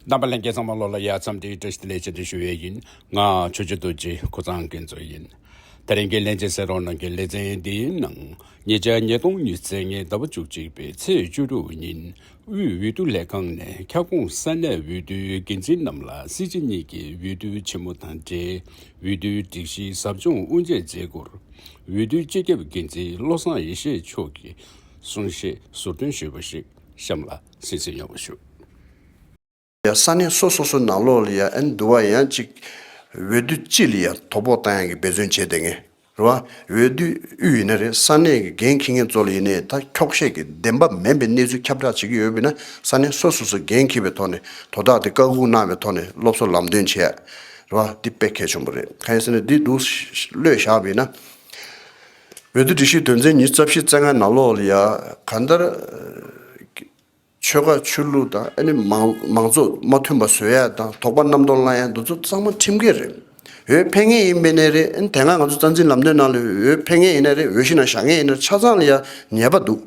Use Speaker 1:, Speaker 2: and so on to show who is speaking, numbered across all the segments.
Speaker 1: བདམས་པ་ལན་བརྒྱད་ཚང་མ་ལོ་ལ་ཡར་མཚམས་འདྲི་བཀྲ་ཤིས་ལས་བྱེད་འདྲི་ཞུ་བས་ཡིན་ང་ཆོས་རྗེ་རྡོ་རྗེ་ཁོ་ཚང་གི་མཛོད་ཡིན་དེ་རིང་གི་ལན་བརྒྱད་ཟེར་རོགས་གནང་གི་ལེ་ཚན་འདིའི་ནང་ཉེ་ཆར་ཉིས་སྟོང་ཉིས་ཚེས་ལྔའི་ཟླ་བ་བཅུ་གཅིག་པའི་ཚེས་བཅུ་དྲུག་ཉིན་དབུས་འོས་བསྡུ་ལས་ཁང་ནས་ཁྱབ་ཁོངས་ས་གནས་འོས་བསྡུའི་འགན་འཛིན་རྣམས་ལ་སྲིད་སྤྱི་གཉིས་ཀྱི་འོས་བསྡུ་ཆེན་མོ་དང་འབྲེལ་འོས་བསྡུའི་སྒྲིག་གཞི་ཟབ་སྦྱོང་དབུ་འབྱེད་མཛད་སྒོར་འོས་བསྡུའི་སྤྱི་ཁྱབ་འགན་འཛིན་བློ་བཟང་ཡེ་ཤེས་མཆོག་གིས་གསུང་བཤད་ཟུར་འདོན་ཞུས་པ་ཞིག་གཤམ་ལ། སེམས་ཚེགས་ཡོང་བ་ཞུ།
Speaker 2: ཡ་ས་གནས་སོ་སོ་སོའི་ནང་ལོག་ལ་ཡ་ཨན་འདུ་བ་ཡང་ཅིག་འོས་བསྡུ་སྤྱི་ལ་ཡང་དོ་ཕོག་བཏང་ཡང་གི་འབད་བརྩོན་བྱེད་དེ་ངེས་རེད་བ་འོས་བསྡུ་དབུས་ཡིན་ན་རེད་ས་གནས་ཀྱི་འགན་འཁི་ངེས་གཙོ་ལ་ཡིན་ནའི་ད་འཁྱོག་བཤད་ཀྱི་བདེན་པ་མེན་པའི་གནས་ཚུལ་ཁྱབ་བསྒྲགས་བྱེད་ཀྱི་ཡོད་བས་ན་ས་གནས་སོ་སོ་སོ་འགན་འཁི་བའི་ཐོག་ནས་དོ་བདག་དེ་བཀག་སྒུག་གནང་བའི་ཐོག་ནས་སློབ་གསོ་ལམ་སྟོན་བྱེད་ཡ་རེད་བ་འདི་དཔེ་གལ་ཆོམ་པོ་རེད་གང་ཡིན་ཟེར་ན་འདི་འདུག་བློས་བཞག་བས་ན། བོད་དུ་སྒྲིག་གཞི་དོན་ཚན་ཉིས་རྩ་བཞི་རྩ་ལྔ་ནང་ལོགས་ལ་ཡང་གང་ལྟར། ཆོལ་ཁ་ཆོས་ལུགས་དང་ཨ་ནི་མང་གཙོ་མ་མཐུན་པ་བཟོས་ཡ་དང་དོགས་པ་རྣམ་རྟོག་བསླང་ཡ་འདུ་ཚོགས་གཙང་མ་ཁྲིམས་འགལ་རེད། འོས་འཕེན་ངེས་ཡིན་པས་ནས་རེད་ཨ་ནི་དེ་སྔ་ང་ཚོ་རྩ་འཛིན་ལམ་སྟོན་ནང་ལོས་འོས་འཕེན་ངེས་ཡིན་ནས་རེད་འོས་གཞི་ནང་བཞག་ངེས་ཡིན་ནས་ཆ་ཚང་ལ་ཡང་ཉེས་པ་འདུག་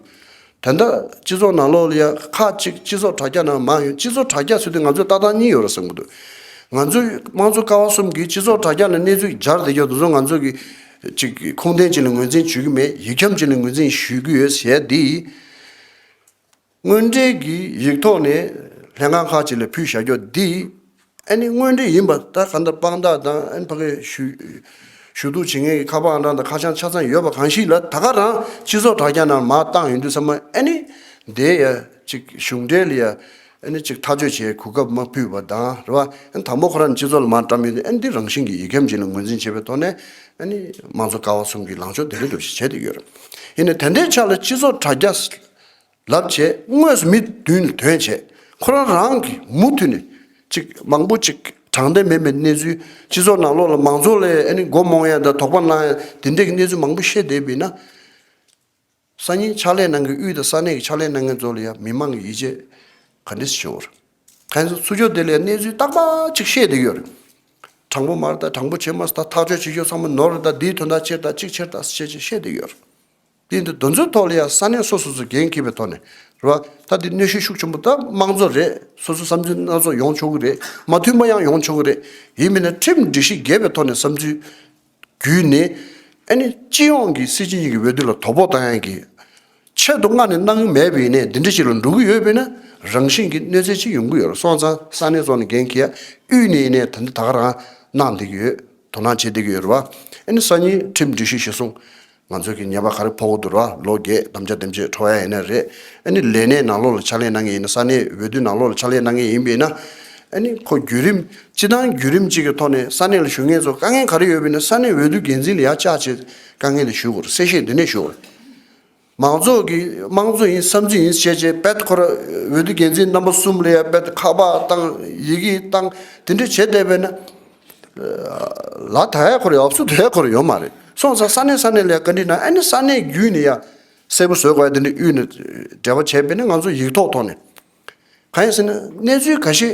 Speaker 2: དོན་དག་སྤྱི་ཚོགས་ནང་ལོགས་ཡ་ཁག་གཅིག་སྤྱི་ཚོགས་དྲ་རྒྱ་ནང་མང་ཡོད་སྤྱི་ཚོགས་དྲ་རྒྱ་ཟེར་དུས་ང་ཚོས་ལྟ་སྟངས་གཉིས་ཡོད་ར་བསམ་གི་འདུག་ང་ཚོས་དམངས་གཙོ་ཀ་བ་གསུམ་གིས་སྤྱི་ཚོགས་དྲ་རྒྱ་ནས་གནས་ཚུལ་སྦྱར་བསྡད་ཀྱང་དེ་ཚོ་ང་ཚོ་གི་ཅིག་ཁུངས་ལྡན་ཅིག་ལ་ངོས་འཛིན་བྱེད་ཀྱི་མེད་ཡིག་འཁྱམ་ཅིག་ལ་ངོས་འཛིན་ཞུས་ཀྱི་ཡོད་ཟེར་དེ་དངོས་འབྲེལ་གྱི་ཡིག་ཐོག་ནས་ལྷན་ཁང་ཁག་ཅིག་ལ་ཕུལ་བཞག་རྒྱོ་དེ་ཨ་ནི་དངོས་འབྲེལ་ཡིན་པ་ལྟར་གང་ལྟར་དཔང་རྟགས་དང་ཨ་ནི་ཕ་གི་ཞུ་གཏུག་བྱེད་མཁན་གྱི་ཁ་དཔང་རང་དང་ཁ་བྱང་ཆ་ཚང་ཡོད་པ་གང་ཞིག་ལ་ད་ག་རང་སྤྱི་ཚོགས་དྲ་རྒྱ་ནང་མ་བཏང་ཡོད་དུས་ཚང་མ་ཨ་ནི་དེ་ཡ་གཅིག་གཞུང་འབྲེལ་ཡ་ཨ་ནི་གཅིག་ཐག་གཅོད་བྱས་གོ་སྐབས་མ་ཕུད་པ་དང་རེད་བ་ཨ་ནི་དང་པོ་ཁོ་རང་སྤྱི་ཚོགས་ལ་མ་བཀྲམ་ཡོད་དུས་ཨ་ནི་འདི་རང་བཞིན་གྱི་ཡིག་སྐྱམ་ཅིག་ལ་ངོས་འཛིན་བྱས་པའི་ཐོག་ནས་ཨ་ནི་དམངས་གཙོ་ཀ་བ་གསུམ་གྱི་ལངས་ཕྱོགས་དེ་རེད་འགྲོ་ཞེས་བྱས་དུ་ཡོད་རེད་ཡིན་ནའི་དེ་འདྲའི་ཆ་ལ་སྤྱི་ཚོགས་དྲ་རྒྱ་ལབ་བྱས་དངོས་སུ་མི་བདུན་ལ་དོན་བྱས་ཁོ་རང་རང་གིས་མུ་མཐུད་ནས་ཅིག་མང་པོ་ཅིག་དྲང་བདེན་མེད་པའི་གནས་ཚུལ་སྤྱི་ཚོགས་ནང་ལོག་ལ་མང་ཚོགས་ལས་ཨ་ནི་མགོ་རྨོངས་ཡ་འདྲ་དོགས་པ་སྣང་ཡ་དེ་འདྲས་ཀྱི་གནས་ཚུལ་མང་པོ་བཤད་བསྡད་པས་ན། སང་ཉིན་ཕྱག་ལས་གནང་མཁན་དབུས་དང་ས་གནས་ཀྱི་ཕྱག་ལས་གནང་མཁན་ཚོ་ལ་ཡང་མི་མང་གི་ཡིད་ཆེས་ག་འདྲས་ཆེ་བོ་རེད། ཁ་ཡིན་ཟུར་ཚུར་ཕྱོགས་དེ་ལས་གནས་ཚུལ་ཏག་ཏག་ཅིག་བཤད་བསྡད་ཡོད་རེད། དྲང་པོ་མ་རེད་དཱ་དྲང་པོ་བྱེད་མ་སྲིད་དཱ་ཐག་གཅོད་བྱེད་ཞོར་ཚང་མ་ནོར་རེད་དཱ་འདིའི་དོན་དག་ཕྱིར་དང་ཅིག་ཕྱིར་དང་ཞེས་བཤད་བསྡད་ཡོད་རེད། སྟེང་དུ་རྡོ་འཛུགས་ཐོག་ལ་ཡང་ས་གནས་སོ་སོ་སུ་འགན་འཁྱེར་བའི་ཐོག་ནས་རེད་པ། ད་དེ་གནོད་ཤུགས་ཤུགས་ཆེན་པོ་ད་དམངས་གཙོ་རེད་སོ་སོའི་བསམ་ཚུལ་སྣ་ཚོགས་ཡོང་ཆོག་གི་རེད་མ་མཐུན་པ་ཡང་ཡོང་ཆོག་གི་རེད་ཡིན་མིན་ན་ཁྲིམས་སྒྲིག་གཞི་འགལ་བའི་ཐོག་ནས་བསམ་ཚུལ་བརྒྱུད་ནས་ཨ་ནི་སྤྱི་ཡོངས་ཀྱི་སྲིད་སྤྱི་གཉིས་ཀྱི་འོས་བསྡུ་ལ་དོ་ཕོག་གཏང་ཡག་གི། ཆེད་དུ་མངགས་ནས་གནང་གི་མེད་པས་ཡིན་ནས་འདི་འདྲ་ཞིག་ལ་འགྲོ་གི་ཡོད་པས་ན་རང་བཞིན་གྱིས་གནོད་འཚེ་ཆེ་ཡོང་གི་ཡོད་སོང་ཙང་ས་གནས་སོགས་ནས་འགན་འཁྱེར་ཡག་དབུས་ནས་ཡིན་ནས་ད་འདི་ད་ག་རང་གནང་བསྡད་ཀྱི་ཡོད་དོ་སྣང་བྱེད་བསྡད་ཀྱི་ཡོད་རེད་པ། ཨ་ནི་སང་ཉིན་ཁྲིམས་སྒྲིག་གཞི་གཞི་བཟུང་ང་ཚོས་གི་ཉེས་པ་ག་རེ་ཕོག་གི་འདུག་ར་ལོ་རྒས་དམ་བཅའ་འདེམས་བྱེད་འཕྲོ་ཡ་ཡིན་ན་རེད་ཨ་ནི་ལས་གནས་ནང་ལོགས་ལ་ཕྱག་ལས་གནང་གི་ཡིན་ན་ས་གནས་འོས་བསྡུ་ནང་ལོགས་ལ་ཕྱག་ལས་གནང་གི་ཡིན་པས་ན་ཨ་ནི་ཁོ་བརྒྱུད་རིམ་སྤྱི་དང་བརྒྱུད་རིམ་གཅིག་གི་ཐོག་ནས་ས་གནས་ལ་ཞུགས་མཁན་ཚོ་དཀའ་ངལ་ག་རེ་ཡོད་པས་ན་ས་གནས་འོས་བསྡུ་འགན་འཛིན་ལ་ཡ་ལྕག་བྱེད་དཀའ་ངལ་ལས་ཞུགས་དགོས་ར་གསལ་བཤད་འདི་ནས་ཞུ་ར། མང་ཚོགས་ཀྱི་དམངས་གཙོ་ཡིན་བསམ་ཚུལ་ཡིན་བཤད་བྱས་དཔེད་ཁོ་ར་འོས་བསྡུ་འགན་འཛིན་རྣམ་པ་གསུམ་ལ་ཡ་དཔེད་ཁ་པ་བཏང་ཡི་གི་བཏང་དེ་འདྲས་བྱེད་བསྡད་པས་ན། ལ་དྭགས་ཁོར་ཡུག་ཨབ་སུ་དྭགས་ཁོར་ཡུག་མ་རེད་སོང་ས་ས་གནས་ས་གནས་ལས་བཀའ་འདྲི་གནང་ཨ་ནི་ས་གནས་བརྒྱུད་ནས་ཡ་གསལ་པོ་བཟོས་དགོས་ཨ་དེ་འདྲའི་དབུས་ནས་འབྲེལ་བ་བྱས་པས་ན་ང་ཚོ་ཡིག་ཐོག་ཐོག་ནས་གང་ཡིན་ཟེར་ན་གནས་ཚུལ་ག་ཤེད་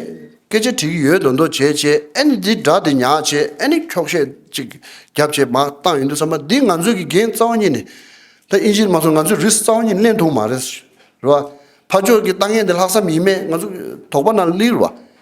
Speaker 2: སྐད་ཆ་དྲི་གི་ཡོད་འདོད་འདོད་བྱས་བྱས་ཨ་ནི་འདི་འདྲ་དེ་ཉག་བྱས་ཨ་ནི་འཁྱོག་བཤད་ཅིག་རྒྱབ་བྱས་མ་བཏང་ཡོད་འདུག་ས་མ་འདི་ང་ཚོས་ཀྱི་འགན་རྩ་བ་ཉིད་ནས་ད་ཨིན་ཇིར་མ་སོང་ང་ཚོས་རིས་རྩ་བ་ཉིད་གླེང་ཐུག་མ་རེད་བ་ཕ་ཕྱོགས་ཀྱི་ལྟ་ངན་དེ་ལྷག་བསམ་ཡིན་མེད་ང་ཚོ་དོགས་པ་ན་ལིར་བ།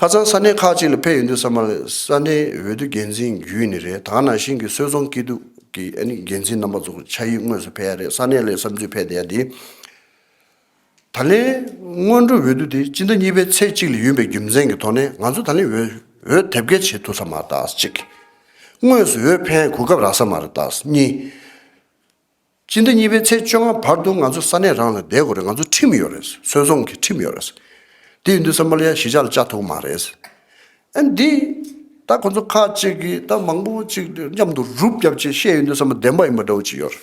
Speaker 2: ཁ་སང་ས་གནས་ཁག་ཅིག་ལ་ཕེབས་ཡོད་འདུག་ས་མ་ལ་ས་གནས་འོས་བསྡུ་འགན་འཛིན་བརྒྱུད་ནས་རེད་ད་ནང་བཞིན་གྱི་སོལ་རྫོང་སྐྱིད་སྡུག་གི་འགན་འཛིན་རྣམ་པ་ཚོ་ཕྱག་ཡིག་དངོས་སུ་ཕེབས་ཡ་རེད་ས་གནས་ལས་བསམ་ཚུལ་ཕེབས་བསྡད་ཡ་འདི། ད་ལན་སྔོན་འགྲོ་འོས་བསྡུ་དེ་སྤྱི་ཟླ་གཉིས་པའི་ཚེས་གཅིག་ལ་ཡུན་པའི་རྒྱུ་མཚན་གྱི་ཐོག་ནས་ང་ཚོ་ད་ལན་འོས་དེབ་སྐད་བྱེད་ཐུབ་ས་མ་རེད་དག་གཅིག། དངོས་སུ་འོས་འཕེན་གོ་སྐབས་རག་ས་མ་རེད་དག་གཉིས། སྤྱི་ཟླ་གཉིས་པའི་ཚེས་བཅོ་ལྔ་བར་དུ་ང་ཚོ་ས་གནས་རང་ལ་བསྡད་དགོས་རེད་ང་ཚོ་ཁྲིམས་ཡོད་རེད་སོལ་རྫོང་གི་ཁྲིམས་ཡོད་རེད། དེ་ཡིན་དུས་སཱ་མཱ་ལི་ཡ་གཞིས་ཆགས་ལ་བཅའ་ཐུབ་ཀྱི་མ་རེད། ཨན་འདི་ད་ཁོ་ཚོ་ཁ་ཅིག་གིས་ད་མང་པོ་ཅིག་མཉམ་དུ་རུབ་བརྒྱབ་བཅས་བཤད་ཡོད་དུས་སཱ་མཱ་བདེན་པ་ཡིན་པ་འདྲ་བོ་ཅིག་ཡོད་རེད།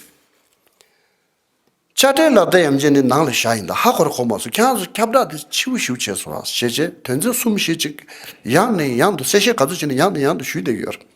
Speaker 2: དཔྱ་ཁྲལ་ལག་རྡ་ཡམ་ཅན་ནི་ནང་ལ་བཞག་ཡིན་ད་ཧ་གོ་ར་གོ་མ་སོང་ཁྱེད་རང་ཚོ་ཁྱབ་བསྒྲགས་དེ་ཕྱིའུ་ཞིའུ་བྱས་སོང་ར་ཞེས་བྱས་དོན་ཚན་གསུམ་ཞེས་ཅིག་ཡང་ནས་ཡང་དུ་གསལ་བཤད་ག་ཚོད་བྱས་ནས་ཡང་ནས་ཡང་དུ་ཞུས་བསྡད་ཀྱི་ཡོད་རེད།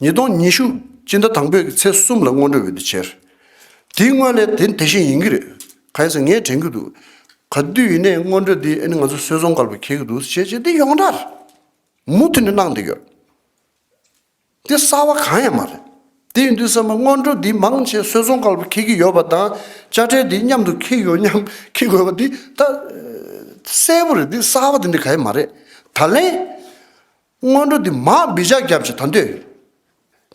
Speaker 2: ཉིས་སྟོང་ཉི་ཤུ་སྤྱི་ཟླ་དང་པོའི་ཚེས་གསུམ་ལ་སྔོན་འགྲོའི་འོད་དུ་འཆར། དེའི་སྔོན་ལས་དེ་དེ་བཞིན་ཡིན་གྱི་རེད། གང་ཡིན་ཟེར་ངས་དྲན་གྱི་འདུག་ག་དུས་ཡིན་ནའི་སྔོན་འགྲོ་འདི་ཨེ་ནི་ང་ཚོ་སྲོལ་བཟང་དཀར་པོས་ཁེལ་གྱི་འདུག་བྱས་བྱས་འདི་ཡོངས་གྲགས་མུ་མཐུད་ནས་གནང་འདི་ཡོད། འདི་གསར་བ་གང་ཡང་མ་རེད། དེ་ཡིན་དུས་བསམ་པ་སྔོན་འགྲོ་འདི་མང་ཆེ་སྲོལ་བཟང་དཀར་པོས་ཁེལ་གྱི་ཡོད་པ་དང་དཔྱ་ཁྲལ་འདི་མཉམ་དུ་ཁེལ་ཡོད་སྙམ་ཁེལ་དགོས་པ་འདི་ད་གསལ་པོ་རེད་འདི་གསར་བ་འདི་འདི་ག་ཡང་མ་རེད་ད་ལན། སྔོན་འགྲོ་འདི་མ་སྦི་ཇག་རྒྱབ་ཅེས་ད་འདོད།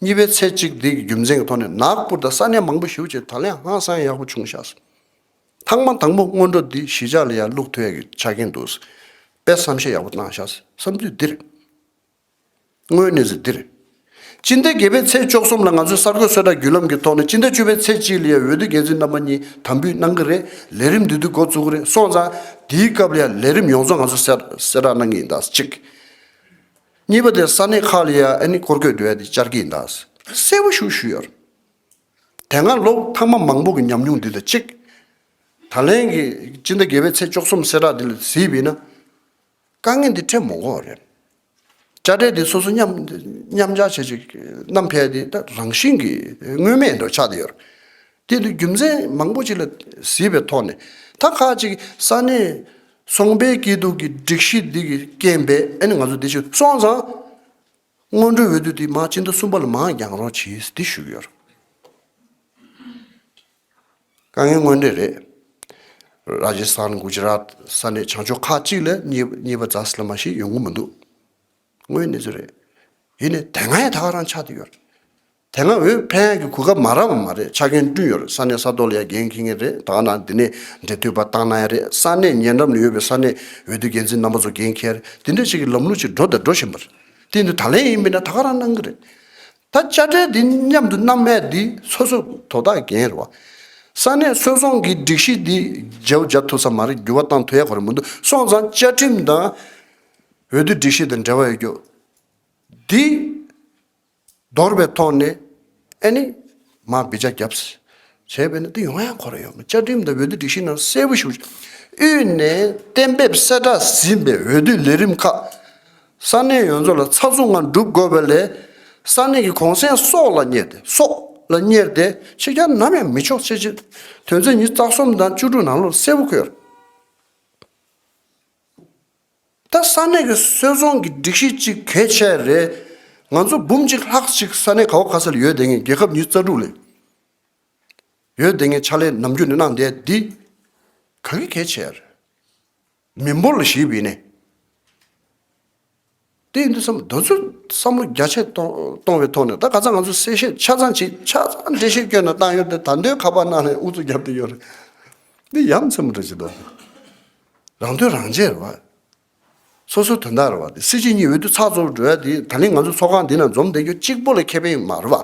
Speaker 2: གཉིས་པའི་ཚེ་གཅིག་སྡིག་གི་རྒྱུ་མཚན་གྱི་ཐོག་ནས་ནག་སྤུར་དང་ས་གནས་མང་པོ་ཞུ་ཅེས་ད་ལན་ཧང་སང་ཡག་པོ་བྱུང་ཤག། ཐང་མ་དང་པོ་སྔོན་འགྲོ་འདི་གཞི་ཆགས་ལ་ཡར་ལུག་ཐོད་ཡག་གི་ཆགས་ཀྱིན་འདུག། དཔེ་བསམ་ཤེས་ཡག་པོ་གནང་ཤག་བསམ་ཚུལ་འདིར། དངོས་གནས་ཟེར་འདིར། སྤྱི་ཟླ་བརྒྱད་པའི་ཚེས་བཅོ་གསུམ་ལ་ང་ཚོས་གསར་འགོད་གསོལ་བསྒྲགས་བརྒྱུད་ལམ་གྱི་ཐོག་ནས་སྤྱི་ཟླ་བཅུ་པའི་ཚེས་གཅིག་ལ་ཡ་འོས་བསྡུ་འགན་འཛིན་རྣམ་པ་གཉིས་དམ་འབུལ་གནང་གི་རེད་ལས་རིམ་འདི་དུས་འགོ་བཙུགས་གི་རེད་སོང་ཙང་དེའི་སྐབས་ལ་ཡ་ལས་རིམ་ཡོངས་རྫོགས་ང་ཚོས་གསལ་བསྒྲགས་གནང་གི་ཡིན་གདའ། གཅིག། གཉིས་པ་དེ་ས་གནས་ཁག་ལ་ཡ་ཨེ་ནི་སྐོར་སྐྱོད་དེ་བས་དེ་བཅར་གི་ཡིན་གདའ། གསལ་བོ་ཞུ་ཞུས་ཡོད། དེ་སྔ་ལོ་མཐའ་མ་མང་པོ་གི་ཉམས་མྱོང་འདི་ལ་གཅིག། ད་ལན་གྱི་སྤྱི་ཟླ་བརྒྱད་པའི་ཚེས་བཅོ་གསུམ་གསལ་བསྒྲགས་འདི་ལ་གཟིགས་དཔེ་ན། དཀའ་ངལ་འདི་འཕྲད་མོང་གོ་རེད། དཔྱ་ཁྲལ་འདི་སོ་སོ་མཉམ་གཞག་བྱས་ཅིག་ནམ་ཕལ་ཏེ་ད་རང་བཞིན་གྱིས་དངོས་མེད་འགྲོ་ཆགས་ཏེ་ཡོད། དེ་འདུག་རྒྱུ་མཚན་མང་པོ་ཅིག་ལ་གཟིགས་པའི་ཐོག་ནས་ད་ཁ་ཅིག་ས་གནས་སོང་པའི་སྐྱིད་སྡུག་གི་སྒྲིག་གཞི་འདི་གིས་རྐྱེན་པས་ཨ་ནི་ང་ཚོ་འདི་ཕྱིར་སོང་ཙང། སྔོན་འགྲོའི་འོས་བསྡུ་འདི་མ་སྤྱི་ཟླ་གསུམ་པ་ལ་མ་འགྱངས་རོགས་གྱིས་འདི་ཞུ་གི་ཡོད། དཀའ་ངལ་དངོས་འབྲེལ་རེད། Rajasthan Gujarat ས་གནས་བྱང་ཕྱོགས་ཁག་གཅིག་ལ་གཉིས་པ་རྫ་སི་ལ་མ་ཞིག་ཡོང་གི་མི་འདུག་དངོས་ཡོད་གནས་ཚུལ་རེད། ཡིན་ནས་དེ་སྔའི་ཐག་རང་ཆགས་འདི་ཡོད། དེ་སྔ་འོས་འཕེན་ཡག་གི་གོ་སྐབས་མ་རག་པ་མ་རེད་ཆ་རྐྱེན་བསྐྲུན་ཡོད་རེད་ས་གནས་ས་ཐོག་ལ་ཡ་འགན་འཁྱེར་ངེས་རེད་ད་ནང་འདི་ནས་འབྲེལ་མཐུད་པ་བཏང་ན་ཡག་རེད་ས་གནས་ཉེ་འགྲམ་ལ་ཡོད་པའི་ས་གནས་འོས་བསྡུ་འགན་འཛིན་རྣམ་པ་ཚོ་འགན་འཁྱེར་དེ་འདྲ་ཞིག་གི་ལམ་ལུགས་ཅིག་འགྲོ་དང་འགྲོ་བཞིན་པ་རེད་དེ་འདི་ད་ལན་ཡིན་མིན་ད་ག་རང་གནང་གི་རེད་ད་དཔྱ་ཁྲལ་འདི་མཉམ་དུ་གནང་མེད་འདི་སོ་སོ་དོ་བདག་འགན་རེད་བ་ས་གནས་སོལ་རྫོང་གི་སྒྲིག་གཞི་འདི་བརྗེ་བོ་བརྗ་ཐུབ་ས་མ་རེད་འགྱུར་བ་བཏང་ཐུབ་ཡག་གོ་རེད་མི་འདུག་སོང་ཙང་བཅའ་ཁྲིམས་དང་འོས་བསྡུ་སྒྲིག་གཞི་དང་འབྲེལ་བ་ཡོད་རྒྱུ་འདི། འདོར་བའི་ཐོག་ནས་ཨེ་ནི། མ་བི་ཇ་རྒྱབ། བྱས་པས་ན་འདི་ཡོང་ཡ་འཁོར་ཡོང་བཅའ་ཁྲིམས་དང་འོས་བསྡུ་སྒྲིག་གཞི་ནང་གསལ་པོ་ཞུ། དབུས་ནས་གཏན་འབེབས་གསལ་བསྒྲགས་ཟིན་པའི་འོས་བསྡུ་ལས་རིམ་ཁག་ས་གནས་ཡོངས་རྫོགས་ལ་ཚགས་ཚུད་ངང་སྒྲུབ་དགོས་པ་ལས། ས་གནས་ཀྱི་གོང་གསལ་སོགས་ལ་གཉེར་ཏེ་སོགས་ལ་གཉེར་ཏེ་ཕྱི་གྱར་ནམ་ཡང་མི་ཆོག་ཅེས་ཆེད་དོན་ཚན་ཉིས་རྩ་གསུམ་དང་བཅུ་དྲུག་ནང་ལོར་གསལ་བོ་བཀོད། ད་ས་གནས་ཀྱི་སོལ་རྫོང་གི་སྒྲིག་གཞི་གཅིག་གལ་ཆེ་རེད། ང་ཚོ་འབུམ་གཅིག་ལྷག་གཅིག་ས་གནས་ག་བ་ག་ས་ལ་ཡོད་དེ་ངས་རྒྱལ་ཁབ་ཉིས་རྩ་དྲུག་ལས་ཡོད་དེ་ངས་ཕྱག་ལས་ནམ་རྒྱུན་ནས་གནང་བསྡད་འདི་ག་གི་གལ་ཆེ་རེད། མི་འབོར་ལ་གཞིས་བེད་ནས། དེ་ཡིན་དུས་སམ་དོན་ཚོད་བསམ་བློ་རྒྱ་ཆེ་གཏོང་བའི་ཐོག་ནས་ད་ག་ཚང་ང་ཚོ་གསལ་བཤད་ཆ་ཚང་བྱེད་ཆ་ཚང་འགྲེལ་བཤད་སྐྱོན་ནང་བཏང་ཡོད་དེ་ད་འདོད་ཁ་པར་གནང་ནས་ཨུ་ཚུགས་རྒྱབ་ཏུ་ཡོད་རེད། འདི་ཡ་མཚན་མོ་འདྲ་བྱེད་འདུག་རང་དོན་རང་བྱེད་རེད་བ། སོ་སོའི་དོན་དག་རེད་བ་དེ་སྲིད་སྤྱི་གཉིས་འོས་བསྡུ་ཚགས་ཚུད་འགྲོ་ཡ་དེ་ད་ནི་ང་ཚོ་ཚོགས་ཁང་འདི་ནང་འཛོམས་བསྡད་རྒྱུ་གཅིག་པོ་ལས་ཁེ་ཕན་མ་རེད་བ།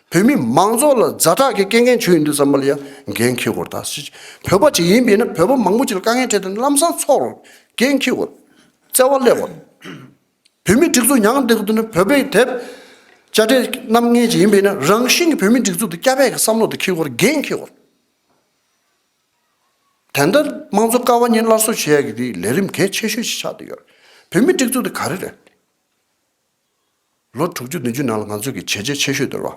Speaker 2: བོད་མི་མང་ཚོགས་ལ་རྫ་དྲག་གི་སྐད་ངན་བྱོས་ཡོད་འདུག་བསམ་པ་ལ་ཡང་འགན་འཁྱེར་དགོས་རྟགས་སུ་བོད་པ་ཅིག་ཡིན་པས་ན་བོད་པ་མང་པོ་ཅིག་ལ་དཀའ་ངལ་འཕྲད་དེ་ལམ་སང་ཚོགས་རོགས་འགན་འཁྱེར་དགོས་བརྩེ་བ་སླེབས་དགོས། བོད་མི་སྒྲིག་འཛུགས་མྱངས་འདེགས་དུ་ནི་བོད་པའི་དེབ་དཔྱ་ཁྲལ་རྣམ་ངན་ཅིག་ཡིན་པས་ན་རང་བཞིན་གྱི་བོད་མི་སྒྲིག་འཛུགས་དེ་སྐྱ་བད་ཀྱི་བསམ་བློ་དེ་འཁྱེར་དགོས་འགན་འཁྱེར་དགོས། དེ་འདྲ་དམངས་གཙོ་ཀ་བ་གཉིས་སླར་གསོ་བྱེད་ཡག་གི་དེ་ལས་རིམ་གལ་ཆེ་ཤོས་ཤིག་ཆགས་བསྡད་ཡོད་རེད་བོད་མི་སྒྲིག་འཛུགས་དེ་ག་རེ་རེད། ལོ་དྲུག་ཅུ་བདུན་ཅུའི་ནང་ལ་ང་ཚོས་ཀྱི་བྱས་རྗེས་ཆེ་ཤོས་དོར་བ།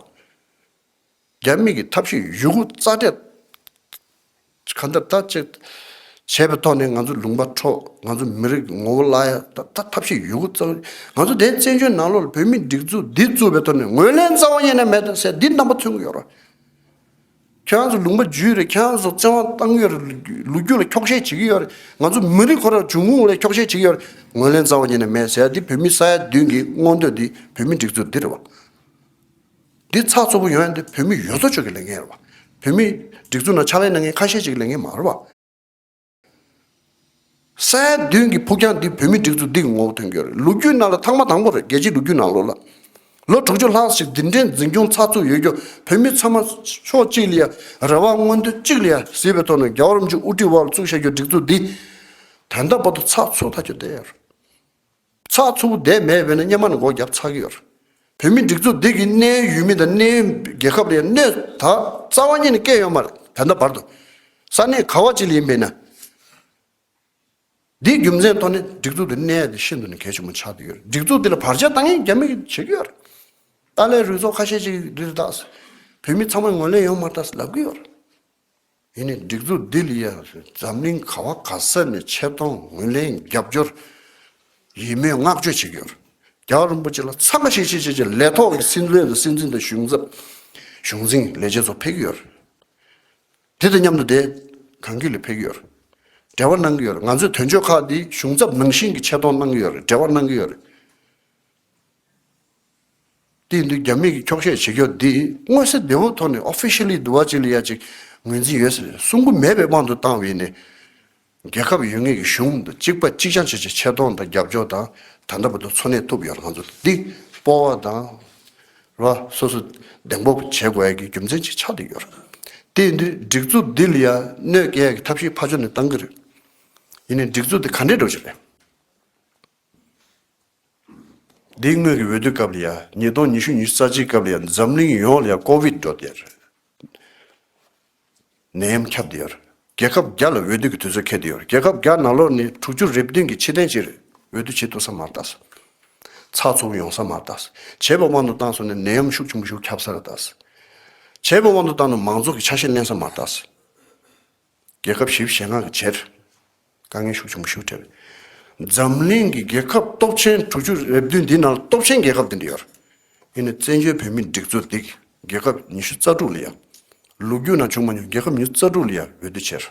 Speaker 2: རྒྱ་མིས་ཀྱི་ཐབས་ཤེས་ཡུལ་གུ་རྩ་འགྲེལ། གང་ལྟར་ད་ཅི། བྱས་པའི་ཐོག་ནས་ང་ཚོ་ལུང་པ་འཕྲོ་ང་ཚོ་མི་རིགས་ངོ་བོ་བརླ་ཡ་ད་ད་ཐབས་ཤེས་ཡུལ་གུ་རྩ་འགྲེལ་ང་ཚོ་དེ་བཙན་བྱོལ་ནང་ལོག་ལ་བོད་མིའི་སྒྲིག་འཛུགས་འདི་བཙུགས་པའི་ཐོག་ནས་ངོས་ལེན་རྩ་བ་ཡེ་ནས་མེད་ད་ཟེར་འདི་རྣམ་པ་མཚོན་གི་ཡོད་རེད། ཁྱོད་རང་ཚོ་ལུང་པ་བརྒྱུད་རེད་ཁྱོད་རང་ཚོ་བཙན་དབང་བཏང་ཡོད་རེད་ལུ་རྒྱུ་ལ་འཁྱོག་བཤད་བྱེད་ཀྱི་ཡོད་རེད་ང་ཚོ་མི་རིགས་ཁོ་རང་འབྱུང་ཁུངས་ལ་འཁྱོག་བཤད་བྱེད་ཀྱི་ཡོད་རེད་ངོས་ལེན་རྩ་བ་ཉིད་ནས་མེད་ཟེར་འདི་བོད་མི་ས་ཡ་བདུན་གྱི་མངོན་འདོད་འདི་བོད་མི་འགྲིག་ཚུལ་འདི་རེད་བ། འདི་ཚགས་ཚུད་པོ་ཡོད་ན་འདི་བོད་མི་ཡོད་ཚོ་ཆོས་ཀྱི་ལས་འགན་རེད་བ། བོད་མི་འགྲིག་ཚུལ་ན་ཕྱག་ལས་གནང་མཁན་ཁ་ཤས་ཤིག་གི་ལས་འགན་མ་རེད་བ། སའི་བདུན་གྱི་ཕུགས་རྒྱང་འདི་བོད་མི་སྒྲིག་འཛུགས་འདི་གི་ངོ་བོ་དོན་འཁྱོལ་རེད་ལོ་རྒྱུས་ནང་ལ་ཐང་མ་དང་པོ་རེད་རྒྱལ་སྤྱིའི་ལོ་རྒྱུས་ནང་ལོ་ལ་ལོ་དྲུག་ཅུ་ལྷག་ཞིག་འདི་འདྲའི་འཛིན་སྐྱོང་ཚགས་ཚུད་ཡོད་རྒྱུ་བོད་མི་ཚང་མ་ཕྱོགས་གཅིག་ལ་ཡ་རེ་བ་མངོན་འདོད་གཅིག་ལ་ཡ་ཟེར་བའི་ཐོག་ནས་རྒྱ་བོད་རིམ་བྱོན་དབུ་ཁྲིད་དབར་བཙུགས་བྱ་རྒྱུའི་སྒྲིག་འཛུགས་འདི་དོན་དམ་པོ་དུ་ཚགས་ཚུད་ཐག་གཅོད་བསྡད་ཡོད་རེད། ཚགས་མཚོ་བོ་འདས་མེད་བས་ན་སྙེ་མ་ནི་སྒོ་བརྒྱབ་ཚར་གི་ཡོད། བོད་མི་སྒྲིག་འཛུགས་འདི་གི་གནས་ཡུལ་མི་དང་གནས་ཡུལ་རྒྱལ་ཁབ་ལས་གནས་ད་རྩ་བ་ཉིད་ནས་སྐད་ཡོད་མ་རེད་ད་ལྟ་བར་དུ་ས་གནས་ག་བ་ཅི་ལ་ཡིན་པས་ན། འདིའི་རྒྱུ་མཚན་ཐོག་ནས་སྒྲིག་འཛུགས་འདི་གནས་ཡས་འདི་ཤིན་ཏུ་ནས་གལ་ཆེན་པོ་ཆགས་འདི་ཡོད་རེད་སྒྲིག་འཛུགས་འདི་ལ་བར་ཆད་བཏང་ཡས་རྒྱ་མི་གིས་བྱེད་ཀྱི་ཡོད་རེད། ཏཱ་ལའི་རུལ་ཚོགས་ཁ་ཤས་ཅིག་གིས་འདི་ལྟ་བུ་བོད་མི་ཚང་མ་ངོས་ལེན་ཡོང་མ་ཐག་ལབ་གི་ཡོད་རེད། ཡིན་ནས་སྒྲིག་འཛུགས་འདི་ལ་ཡང་འཛམ་གླིང་ག་བ་ག་ས་ནས་ཆེ་མཐོང་ངོས་ལེན་རྒྱབ་སྐྱོར་ཡིད་སྨོན་བསྔགས་བརྗོད་བྱེད་ཀྱི་ཡོད། རྒྱ་གར་རིན་པོ་ཆེ་ལ་མཚར་མ་ཞིག་བྱེད་བྱེད་བྱེད་ལས་ཐོག་གི་སྲིད་བློན་དང་སྲིད་འཛིན་དང་གཞུང་ཚབ་གཞུང་འཛིན་ལས་བྱེད་ཚོ་ཕེབས་ཀྱི་ཡོད། དེ་དང་མཉམ་དུ་དེ་གང་གི་ལ་ཕེབས་ཀྱི་ཡོད་རེད། འབྲེལ་བ་གནང་གི་ཡོད་རེད། ང་ཚོས་དོན་གཅོད་ཁག་འདི་གཞུང་ཚབ་ནང་བཞིན་གྱི་ཆེ་མཐོང་གནང་གི་ཡོད་རེད་འབྲེལ་བ་གནང་གི་ཡོད་རེད། དེ་འདུག་རྒྱ་མི་གིས་འཁྱོག་བཤད་བྱེད་སྐྱོ་འདི་དངོས་གསལ་བདེན་དཔང་ཐོག་ནས Officially དུ་བ་ཅིག་ལ་ཡ་ཅིག་ངོས་འཛིན་ཡོད་ཟེར་གསུང་གི་མེད་པའི་དབང་དུ་བཏང་བས་ནས། རྒྱལ་ཁབ་ཡོད་ངེས་ཀྱི་གཞུང་དང་གཅིག་པ་གཅིག་རྐྱང་བྱེད་ཆེད་ཆེ་མཐོང་དང་རྒྱབ་སྐྱོར་དང་ད་ལྟ་བར་དུ་འཚོ་གནས་ཐུབ་ཡོད་ང་ཚོ་འདི་སྤོ་བ་དང། ར་བ་སོ་སོ་གདེང་སྤོབས་བྱེད་དགོས་ཡ་གི་རྒྱུ་མཚན་ཅིག་ཆགས་དུ་ཡོད་རེད། དེ་འདུག་སྒྲིག་འཛུགས་འདི་ལ་ཡ་གནོད་སྐྱལ་ཡ་གི་ཐབས་ཤེས་ཕ་ཅོ་ནས་བཏང་གི་རེད། ཡིན་ནས་སྒྲིག་འཛུགས་འདི་ག་འདྲས་འགྲོ་ཆེད་རེད། འདི་སྔོན་གྱི་འོས་བསྡུ་སྐབས་ལ་ཡང་ཉིས་སྟོང་ཉི་ཤུ་ཉི་ཤུ་རྩ་གཅིག་སྐབས་ལ་ཡང་འཛམ་གླིང་ཡོངས་ལ་ཡང་ཀོ་བིད་འགྲོ་བསྡད་ཡོད། ནད་ཡམས་ཁྱབ་བསྡད་ཡོད། རྒྱལ་ཁབ་བརྒྱ་ལ་འོས་བསྡུ་གྱི་དུས་ཚོད་འཁེལ་བསྡད་ཡོད། རྒྱལ་ཁབ་བརྒྱ་ནང་ལོགས་ནས་དྲུག་ཅུ་རེབ་བདུན་གྱི་ཕྱི་ཐེངས་གཅིག་རེ་འོས་བསྡུ་བྱེད་ཐུབ་ས་མ་རྟགས་སོ། ཚགས་ཚུགས་ཡོང་ས་མ་རྟགས་སོ། བྱས་པ་དབང་དུ་བཏང་སོང་ནས་ནད་ཡམས་ཤུགས་ཆུང་པོ་ཞིག་ཁྱབ་ས་རེ་རྟགས་སོ། བྱས་པ་དབང་དུ་བཏང་ནས་མང་ཚོགས་ཀྱི་ཆ་ཤས་བསྣན་ས་མ་རྟགས་སོ། རྒྱལ་ཁབ་ཞི་བའི་ཞེ་དངངས་ཀྱི་ཆེད། དཀའ་ངལ་ཤུགས་ཆེན་པོ་ཞུགས་འཕྲལ། འཛམ་གླིང་གི་རྒྱལ་ཁབ་སྟོབས་ཆེན་དྲུག་ཅུ་རེ་བདུན་འདི་ནང་སྟོབས་ཆེན་རྒྱལ་ཁབ་འདི་འདྲ་ཡོད། ཡིན་ནས་བཙན་བྱོལ་བོད་མིའི་སྒྲིག་འཛུགས་འདི་རྒྱལ་ཁབ་ཉི་ཤུ་རྩ་དྲུག་ལ་ཡང། ལུགས་རྒྱུད་ནང་བྱུང་མ་མྱོང་རྒྱལ་ཁབ་ཉི་ཤུ་རྩ་དྲུག་ལ་ཡང་འོས་བསྡུ་བྱས།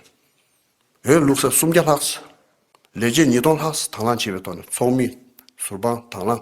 Speaker 2: བོད་ལུགས་ས་སུམ་བརྒྱ་ལྷག། ལས་བྱེད་ཉིས་སྟོང་ལྷག་དང་བླངས་བྱས་པའི་ཐོག་ནས་ཚོགས་མི། ཟུར་དཔང་དང་བླངས།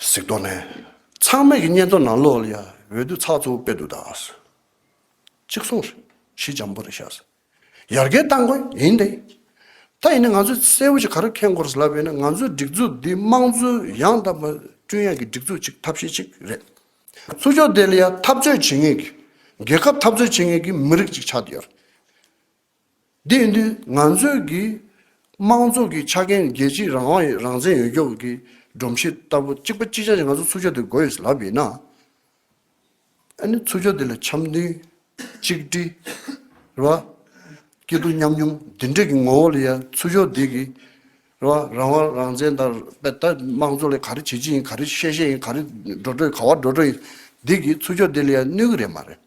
Speaker 2: གཟིགས་རྟོག་ནས། ཚང་མེད་ཀྱི་གཉེན་དོ་ནང་ལོག་ལ་ཡ་འོད་དུད་ཚགས་ཚུགས་དཔེ་དུད་ད་ཨ་སི། གཅིག་སོང་རེད་གཞི་འཇམ་པོ་རེད་ཤ་སི། ཡར་རྒལ་གཏང་དགོས་ཡིན་ཏེ། ད་ཡིན་ནི་ང་ཚོས་གསལ་བོ་ཞིག་ག་རེ་ཁེངས་དགོས་རེད་ལབ་ཡོད་ན་ང་ཚོའི་སྒྲིག་འཛུགས་འདི་དམངས་གཙོའི་ཡང་དག་པ་བསྐྲུན་ཡག་གི་སྒྲིག་འཛུགས་གཅིག་ཐབས་ཤེས་གཅིག་རེད། ཚུར་ཕྱོགས་དེ་ལ་ཡ་འཐབ་རྩོད་བྱེད་ངེས་ཀྱི། རྒྱལ་ཁབ་འཐབ་རྩོད་བྱེད་ངེས་ཀྱི་མི་རིགས་གཅིག་ཆགས་ཀྱི་ཡོད་རེད། དེང་དུས་ང་ཚོའི་གིས་དམངས་གཙོ་གི་ཆ་རྐྱེན་རྒྱལ་སྤྱིའི་རང་དབང་ཡི་རང་བཙན་ཡོད་སྐྱོབ་ཀྱི་སྒྲོམ་གཞི་ལྟ་བུ་གཅིག་པ་གཅིག་ཅན་ཞིག་ང་ཚོ་ཚུར་ཕྱོགས་འདིར་འགོ་ཡོད་ཟེར་ལབ་ཡོད་ན། ཨ་ནི་ཚུར་ཕྱོགས་འདི་ལ་འཆམ་མཐུན། གཅིག་སྒྲིལ། རེད་བ། སྐྱིད་སྡུག་མཉམ་མྱོང་འདི་འདྲ་གི་ངོ་བོ་ལ་ཡང་ཚུར་ཕྱོགས་འདི་གིས། རེད་བ། རང་དབང་རང་བཙན་དང་དཔེ་ལྟ་དམངས་གཙོ་ལས་ག་རེ་བྱེད་བྱེད་ཡིན་ག་རེ་བཤད་བཤད་ཡིན་ག་རེ་འགྲོ་འགྲོ་ཡིན་ག་བ་འགྲོ་འགྲོ་ཡིན་འདི་གིས་ཚུར་ཕྱོགས་འདི་ལ་ཡང་གནོད་གི་རེད་མ་རེད།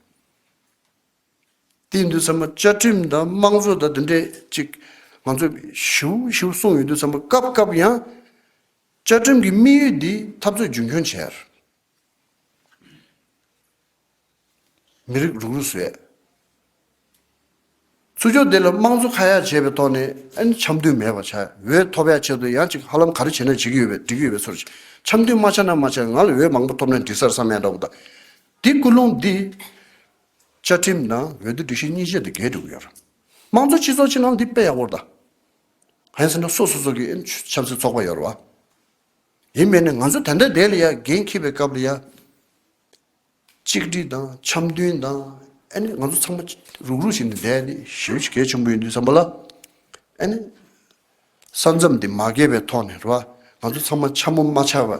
Speaker 2: བསྟན་འདུག་ཚང་མ་བཅའ་ཁྲིམས་དང་དམངས་གཙོ་དང་འདི་འདྲས་ཅིག་ང་ཚོས་ཞུ་ཞུ་གསུངས་ཡོད་དུས་ཚང་མ་སྐབས་སྐབས་ཡང་བཅའ་ཁྲིམས་ཀྱི་དམིགས་ཡུལ་འདི་འཐབ་རྩོད་རྒྱུན་འཁྱོངས་བྱས། མི་རིགས་རུག་རུག་བཟོས། ཚུར་ཕྱོགས་འདི་ལ་དམངས་གཙོ་ཁ་ཡག་བྱས་པའི་ཐོག་ནས་ཨ་ནི་འཆམ་མཐུན་མེད་པ་བྱ་འོས་ཐོབ་ཡག་ཆེད་དུ་ཡང་ཅིག་ཧ་ལམ་ག་རེ་བྱས་ན་བྱེད་ཀྱི་ཡོད་པའི་འགྲིག་གི་ཡོད་པའི་ཚོར་འཆམ་མཐུན་མ་བྱས་ན་མ་བྱས་ང་ལ་འོས་མང་པོ་ཐོབ་ན་འགྲིག་སར་བསམ་ཡང་འདྲ་བོ་དང་དེ་ཀུན་སློང་འདི་བཅའ་ཁྲིམས་ནང་འོས་བསྡུ་སྒྲིག་གཞི་གཉིས་བཞེས་དེ་འགལ་འདུག་ཡོད། དམངས་གཙོའི་སྤྱི་ཚོགས་ཅིག་ནང་འདི་དཔེ་ཡག་པོ་རེད་ད། ཧན་སེ་ན་སོ་སོ་སོ་གི་ཆབ་སྲིད་ཚོགས་པ་ཡོད་རེད་བ། ཡིན་མེད་ནི་ང་ཚོ་དེ་འདྲའི་བསྡད་ལ་ཡ་འགན་འཁྱེར་བའི་སྐབས་ལ་ཡ། གཅིག་སྒྲིལ་དང་འཆམ་མཐུན་དང་ཨེ་ནི་ང་ཚོ་ཚང་མ་རུག་རུག་བྱས་ནས་བསྡད་ནི་ཞེ་བཞི་གལ་ཆེན་པོ་ཡོད་འདུག་བསམ་པ་ལ་ཨེ་ནི། ས་མཚམས་དེ་མ་བརྒལ་བའི་ཐོག་ནས་རེད་བ། ང་ཚོ་ཚང་མ་འཕྱ་མོ་མ་འཕྱ་བ་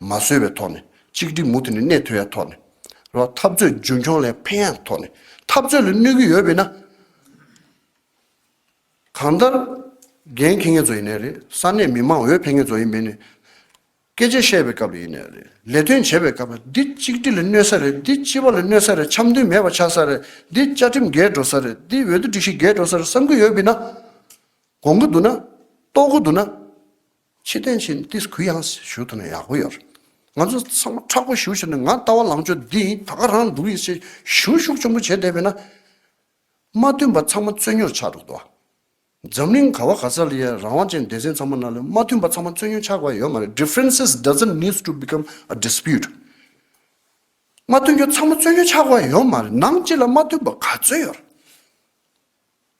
Speaker 2: མ་བཟོས་བའི་ཐོག་ནས། གཅིག་སྒྲིལ་མུ་མཐུད་ནས་གནས་ཐུ་ཡ་ཐོག་ནས། རེད་བ། འཐབ་རྩོད་རྒྱུན་འཁྱོངས་ལས་ཕན་ཡ་ཐོག་ནས། འཐབ་རྩོད་ལ་གནོད་ཀྱི་ཡོད་བས་ན། གང་ལྟར། འགན་ཁེ་ངེད་ཚོ་ཡིན་ནའི་རེད། ས་གནས་མི་མང་འོས་འཕེན་ངེད་ཚོ་ཡིན་བས་ནས། སྐད་ཆ་བཤད་པའི་སྐབས་ཡིན་ནི་རེད་ལས་དོན་བྱེད་པའི་སྐབས་འདི་གཅིག་སྒྲིལ་གནོད་ས་རེད་འདི་སྤྱི་བ་ལ་གནོད་ས་རེད་འཆམ་མཐུན་མེད་པ་ཆགས་ས་རེད་འདི་བཅའ་ཁྲིམས་འགལ་འགྲོ་ས་རེད་འདི་འོས་བསྡུ་སྒྲིག་གཞི་འགལ་འགྲོ་ས་རེད་བསམ་གི་ཡོད་བི་ན། དགོངས་གི་འདུག་ན། རྟོགས་གི་འདུག་ན། ཕྱི་བསྟན་ཕྱིན་ཏིས་གུ་ཡངས་སེ་ཞུ་ཐུབ་ན་ཡག་པོ་ཡོད་རེད། ང་ཚོ་ཚང་མ་ཁྲག་པོ་ཞུ་བྱས་ནས་ང་ལྟ་བ་ལང་ཕྱོགས་འདི་ཡིན་ད་ག་རང་འདུག་ཡིན་ཞེས་ཞུ་ཤུགས་ཆེན་པོ་བྱས་བསྡད་བི་ན། མ་མཐུན་པ་ཚང་མ་རྩོད་ཉོར་ཆགས་འགྲོ་གི་འདུག་ཨ། འཛམ་གླིང་ག་བ་ག་ས་ལ་ཡང་རང་དབང་ཅན་སྡེ་ཚན་ཚང་མ་ནང་ལོས་མ་མཐུན་པ་ཚང་མ་རྩོད་རྙོག་ཆགས་པ་ཡོད་མ་རེད Differences doesn't needs to become a dispute མ་མཐུན་རྒྱུ་ཚང་མ་རྩོད་རྙོག་ཆགས་པ་ཡོད་མ་རེད་ནང་སྤྱི་ལ་མ་མཐུན་པ་ག་ཚོད་ཡོད་རེད་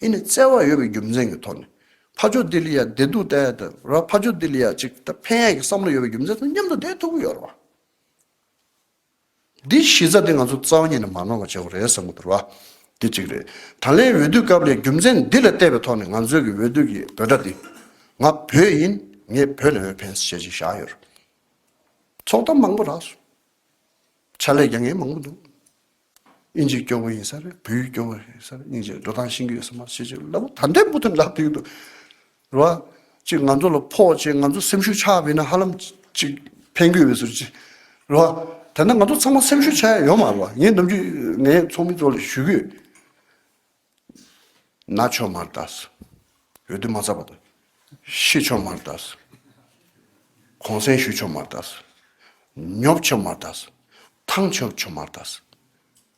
Speaker 2: ཨི་ནི་བརྩེ་བ་ཡོད་པའི་རྒྱུ་མཚན་གྱི་ཐོག་ནས་ཕ་ཇོ་ལྡི་ལི་ཡ་བདེ་སྡུག་ལྟ་ཡ་དང་ར་ཕ་ཇོ་ལྡི་ལི་ཡ་ཅིག་ད་ཕན་ཡ་གྱི་བསམ་བློ་ཡོད་པའི་རྒྱུ་མཚན་ཚང་མཉམ་དུ་བསྡད་ཐུབ་ཀྱི་ཡོད་རེད་བ། འདི་གཞི་རྩ་དེ་ང་ཚོ་རྩ་བ་ཉིད་ནས་མ་ནོར་བ་བྱེད་དགོས་རེད་བསམ་གྱི་འདུག་ར། དེ་གཅིག་རེད། ད་ལན་འོས་བསྡུ་སྐབས་ལས་རྒྱུ་མཚན་འདི་ལ་བལྟས་པའི་ཐོག་ནས་ང་ཚོས་ཀྱི་འོས་བསྡུ་ཀྱི་འབོད་སྒྲ་འདི། ང་བོད་ཡིན། ངས་བོད་ནས་འོས་འཕེན་ཞེས་ཅིག་བཞག་ཡོད་རེད། ཚོགས་གཏམ་མང་པོ་རག་སོང། ཕྱག་ལས་ཀྱང་ངས་མང་པོ་འདུག། དབྱིན་ཇིའི་སྐྱོ་བོ་ཡིན་ས་རེད་བོད་ཡིག་སྐྱོ་བོ་ཡིན་ས་རེད་དབྱིན་ཇིའི་འགྲོ་སྟངས་ཤེས་ཀྱི་ཡོད་ས་མ་རེད་ཅེས་ཅེས་ལབ་བུ་ད་འདྲས་འབུ་ཐུམ་འདྲ་ལྟོས་ཀྱི་འདུག། རེད་བ། གཅིག་ང་ཚོ་ལ་ཕོག་ཅེས་ང་ཚོ་སེམས་ཤུགས་ཆགས་དགོས་ན་ཧ་ལམ་གཅིག་ཕན་དགོས་པའི་ཟུར་གཅིག་རེད་བ། དེ་འདྲ་ང་ཚོ་ཚང་མ་སེམས་ཤུགས་ཆགས་ཡས་ཡོད་མ་རེད་བ་ངས་འདུམ་རྒྱུ་ངས་ཚོགས་མི་ཚོ་ལ་ཞུ་རྒྱུ། ན་ཆོ་མ་རེད་དཱ། འོས་བསྡུ་མ་རྩ་བ་དང། ཤི་ཆོ་མ་རེད་དཱ། གོང་གསལ་ཞུ་ཆོ་མ་རེད་དཱ། ཉོབ་ཆོ་མ་རེད་དཱ། ཐང་ཆོ་ཆོ་མ་རེད་དཱ།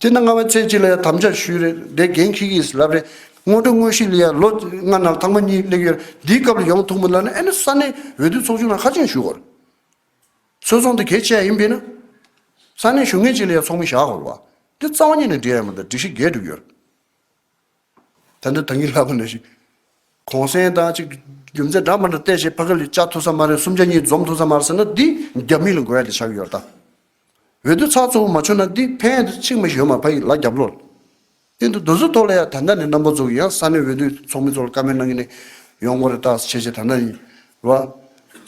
Speaker 2: དེ་ན་རྔ་བ་ཚེ་གཅིག་ལ་ཡང་དམ་བཅའ་ཞུས། རེད་དེ་རྒན་ཁྱི་གིས་ལབ་རེད། སྔོན་འགྲོ་དངོས་གཞི་ལ་ཡང་ལོ་ལྔ་ནང་ཐང་མ་གཉིས་གླེགས་ཡོད་རེད། འདིའི་སྐབས་ལ་ཡོང་ཐུག་མི་ལབ་ན་ཨེ་ན་ས་གནས་འོས་བསྡུ་ཚོགས་ཆུང་ནང་ཧ་ཅིང་ཞུ་དགོས་རེད། ཚོས་ཚོགས་འདི་གལ་ཆེ་ཡ་ཡིན་པས་ན། ས་གནས་ཞུ་ངེས་ཅིག་ལ་ཡང་ཚོགས་མི་བཞག་དགོས་རེད་བ། འདི་རྩ་བ་ཉིད་ནས་འབྲེལ་ཡ་མི་འདུག་སྒྲིག་གཞི་འགལ་འགྲུབ་ཡོད་རེད། ད་ནི་ད་ངས་ལྷག་པ་ནས་ཤིག། གོང་གསལ་དང་གཅིག་རྒྱུ་མཚན་སྦྲགས་མ་འདྲ་བལྟས་བྱས་ཕ་གི་ལས་བཅའ་ཐུབ་ས་མ་རེད་སུམ་ཆ་གཉིས་འཛོམས་ཐུབ་ས་མ་རེད་ཟེར་ན་འདི་རྒྱ་མི་ལ་འགོ་ཡ་དེ་ཆགས་ཀྱི་ཡོད་རྟ། འོད་དུ་ཚགས་གཙོ་བོ་མ་ཆོད་ན་འདི་ཕན་ཡ་དེ་ཆིག་མ་ཞོན་མ་ཕ་ཡི་ལ་རྒྱབ་ལོ། སྟེང་དུ་རྡོ་ཟུར་ཐོག་ལ་ཡ་ད་ནི་རྣམ་པ་ཚོ་གི་ཡང་ས་ནས་འོད་དུ་ཚོགས་མི་ཚོ་ལ་ཀ་མེད་གནང་གི་ནས་ཡོང་གོ་རེད་རྟ་ཆེ་ཆེ་ད་ནི། བ།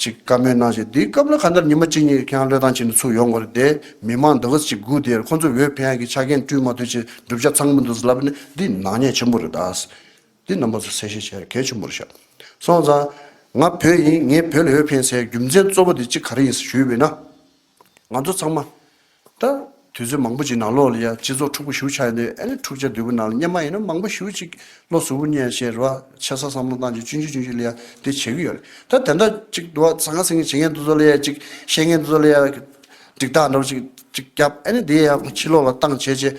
Speaker 2: ཅིག་བཀའ་མོལ་གནང་ཞིང་དེའི་སྐབས་ལ་ཁ་འདར་ཉི་མ་གཅིག་གཉིས་ཁེ་ཧང་བློས་བཏང་བྱས་ནས་ཚུགས་ཡོང་དགོས་རེད་དེ་མི་མང་འདི་གཟི་ཅིག་སྒུག་དེ་ཡར་ཁོང་ཚོས་འོས་འཕེན་ཡག་གི་ཆ་རྐྱེན་བསྐྲུན་མ་ཐུབ་ཆེད་བསྒྲུབ་བྱ་ཚང་མི་འདུག་ཟེར་ལབ་ནས་འདི་ནག་ཉེས་ཆེན་པོ་རེད་ད། འདི་རྣམ་པ་ཚོ་གསལ་བཤད་བྱས་གལ་ཆེན་པོ་རེད་ཤག། སོང་ཙང། ང་བོད་ཡིན་ངས་བོད་ལ་འོས་འཕེན་ཟེར་རྒྱུ་མཚན་གཙོ་བོ་དེ་ཅིག་ག་རེ་ཡིན་ཟེར་ཞུས་བས་ན། ང་ཚོ་ཚང་མ་ད་དུས་ཚོད་མང་པོ་ཅིག་ནང་ལོགས་ལ་ཡ་སྤྱི་ཚོགས་འཁྲུག་པོ་ཞུ་ཆགས་ཡོད་དུས་ཨ་ནི་འཁྲུག་ཆ་དུས་པོ་ནང་ལ་སྙེ་མ་ཡིན་ན་མང་པོ་ཞུ་ཅིག་ལོ་ཟུར་བུ་སྙེ་ཡ་ཞེས་རེ་བ་ཆེ་ས་བསམ་བློ་བཏང་ཅིག་ཅུན་ཅུན་ཅུན་ཅུན་ལ་ཡ་འདི་བྱེད་ཀྱི་ཡོད་རེད་ད་དེ་འདྲ་ཅིག་འདུག་ཨ་ཟང་ང་ཟིང་གི་བྱེད་མཁན་འདི་ཚོ་ལ་ཡ་ཅིག་བཤད་མཁན་འདི་ཚོ་ལ་ཡ་འགྲིག་རྟགས་འདྲ་པོ་ཅིག་ཅིག་བརྒྱབ་ཨ་ནི་དེ་ཡ་ཕྱི་ལོགས་ལ་བཏང་བྱས་བྱས།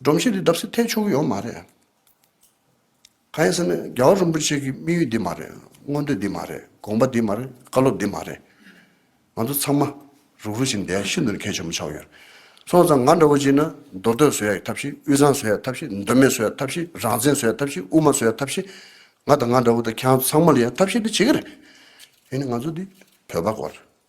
Speaker 2: སྒྲོམ་གཞི་འདི་བརྡབ་སའི་ཐལ་ཆུང་གི་ཡོད་མ་རེད། གང་ཡིན་ཟེར་ན་རྒྱ་བ་རིན་པོ་ཆེ་གི་དམིགས་ཡུལ་འདི་མ་རེད། མངོན་འདོད་འདི་མ་རེད། དགོངས་པ་འདི་མ་རེད། བཀའ་སློབ་འདི་མ་རེད། ང་ཚོ་ཚང་མ་རུག་རུག་བཞིན་བསྡད་ཤིན་ཏུ་ནས་གལ་ཆེན་པོ་ཆགས་ཡོད། སོང་ཙང་ང་འདྲ་བོ་གཅིག་ན་མདོ་སྟོད་བཟོ་ཡག་ཐབས་ཤེས་དབུས་གཙང་བཟོ་ཡག་ཐབས་ཤེས་མདོ་སྨད་བཟོ་ཡག་ཐབས་ཤེས་རང་བཙན་བཟོ་ཡག་ཐབས་ཤེས་དབུ་མ་བཟོ་ཡག་ཐབས་ཤེས། ང་དང་ང་འདྲ་བོ་དང་ཁྱེད་རང་ཚང་མ་ལ་ཡང་ཐབས་ཤེས་འདི་བྱེད་ཀྱི་རེད། དེ་ནི་ང་ཚོ་འདི་བོད་པ་སྐོར་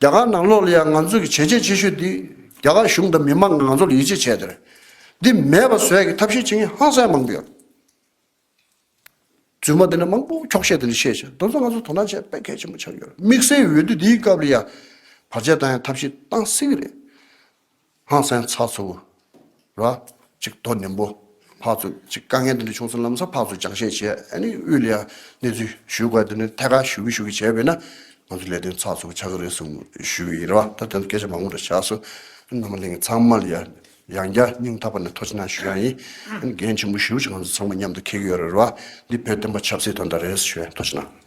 Speaker 2: རྒྱ་གར་ནང་ལོགས་ལ་ཡང་ང་ཚོ་གི་བྱས་རྗེས་ཆེ་ཤོས་འདི་རྒྱ་གར་གཞུང་དང་མི་མང་གི་ང་ཚོ་ལ་ཡིད་ཆེས་བྱས་དེར་འདི་མེད་པ་བཟོས་གི་ཐབས་ཤེས་བྱེད་མཁན་ཧང་སངས་མང་པོ་ཡོད། རྫུན་མ་འདི་འདྲ་མང་པོ་འཁྱོག་བཤད་འདི་འདྲ་བཤད་བྱས་དོན་དུ་ང་ཚོ་དོ་སྣང་བྱས་དཔེ་གལ་ཆེན་པོ་ཆགས་ཀྱི་ཡོད་རེད་དམིགས་བསལ་འོས་བསྡུ་འདིའི་སྐབས་ལ་ཡང་བར་ཆད་བཏང་ཡང་ཐབས་ཤེས་བཏང་སྲིད་གི་རེད། སྔགས་མཚན་ཚགས་ཚུགས་ར་གཅིག་རྡོ་ནིམ་པོ་ཕག་ཚུགས་གཅིག་དཀའ་ངལ་དེ་འདྲ་བྱུང་ཚུལ་ལམ་སང་ཕག་ཚུགས་སྦྱང་བཤད་བྱས་ཨ་ནི་དབུས་ལ་ཡང་གནས་ཚུལ་ཞུས་དགོས་དེ་ནས་ཐད་ཀར་ཞུ་གི་ཞུ་གི་བྱས་པས་ན་ང་ཚོ་ལས་དོན་ཚགས་ཚུགས་ཆགས་ཀྱི་རེད་གསུང་ཞུས་ཀྱི་ཡིན་རེད་བ་ད་དོན་སྐད་ཆ་མང་པོ་འདྲ་བྱས་སོ་ནང་པ་གླིང་ཚང་མ་ལ་ཡང་ཡང་བསྐྱར་སྙིང་ཐག་པ་ནས་ཐོག་ཕྱི་ནང་ཞུས་ཡང་ཡིན་འགན་ཆེན་པོ་ཞུ་ཆེད་ང་ཚོ་ཚང་མ་མཉམ་དུ་འཁེལ་གྱི་ཡོད་རེད་བ་འདི་བོད་བསྟན་པ་ཆབ་སྲིད་དོན་དག་རེད་ཞུས་ཡང་ཐོག་ཕྱི་ནང།